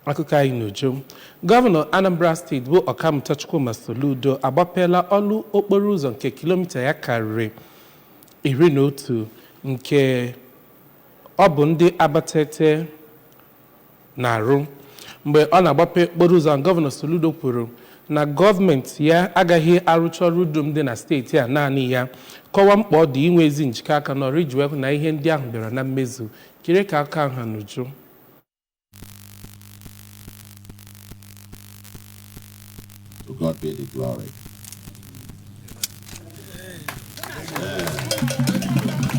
Akụkọ anyị n'uju. Gọvanọ Anambra steeti bụ Ọkammụta Chukwuma Soludo agbapeela ọlụ okporo ụzọ nke kilomita ya karịrị iri na otu nke ọ bụ ndị Abatete na-arụ. Mgbe ọ na-agbape okporo ụzọ ahụ, Gọvanọ Soludo kwuru na gọọmenti ya agaghị arụcha ọrụ dum dị na steeti a naanị ya, kọwaa mkpa ọ dị inwe ezi njikọ aka n'ọrụ iji wee hụ na ihe ndị ahụ bịara na mmezu. Kirie ka akụkọ ahụ ha n'uju. To God be the glory.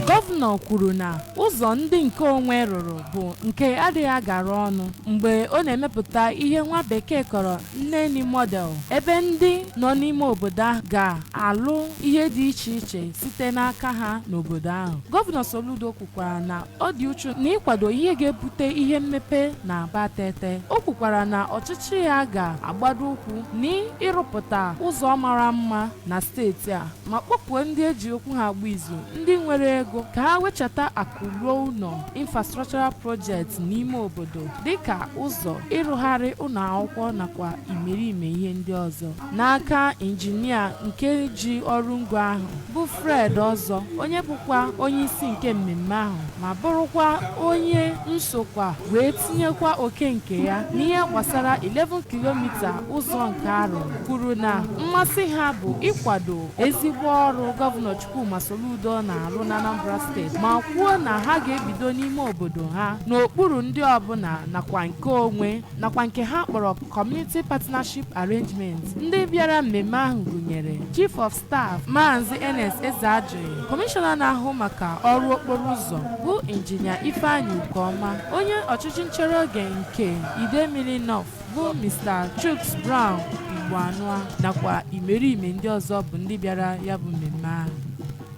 gọvanọ kwuru na ụzọ ndị nke onwe rụrụ bụ nke adịghị agara ọnụ mgbe ọ na-emepụta ihe nwa bekee kpọrọ Neni model ebe ndị nọ n'ime obodo ahụ ga-alụ ihe dị iche iche site n'aka ha n'obodo ahụ gọvanọ soludo kwukwara na Ọ dị uchu n'ịkwado ihe ga-ebute ihe mmepe n'Abatete. O kwukwara na ọchịchị ya ga-agbado ụkwụ n'ịrụpụta ụzọ mara mma na steeti a ma kpọkuo ndị e ji okwu ha agba izu ndị nwere ego ka ha wechata akụ ruo ụlọ infrastructural project n'ime obodo dịka ụzọ, ịrụgharị ụlọ akwụkwọ nakwa imerime ihe ndị ọzọ. n'aka injinia nke ji ọrụ ngo ahụ bụ Fred Ọzọ onye bụkwa onye isi nke mmemme ahụ ma bụrụkwa onye nsokwa wee tinyekwa oke nke ya n'ihe gbasara 11 kilomita ụzọ nke arụ kwuru na mmasị ha bụ ịkwado ezigbo ọrụ gọvanọ Chukwuma Soludo na-arụ n'Anambra steeti ma kwuo na ha ga-ebido n'ime obodo ha n'okpuru ndị ọbụla nakwa nke onwe nakwa nke ha kpọrọ Community Partnership Arrangement ndị bịara mmemme ahụ gụnyere Chief of Staff Maazị Ernest Ezeajughi Kọmishọna na-ahụ maka ọrụ okporo ụzọ bụ Injinia Ifeanyi Okoma onye ọchịchị nchere oge nke Idemili North bụ Mr. Chuks Brown Igboanụa nakwa imerime ndị ọzọ bụ ndị bịara ya bụ mmemme ahụ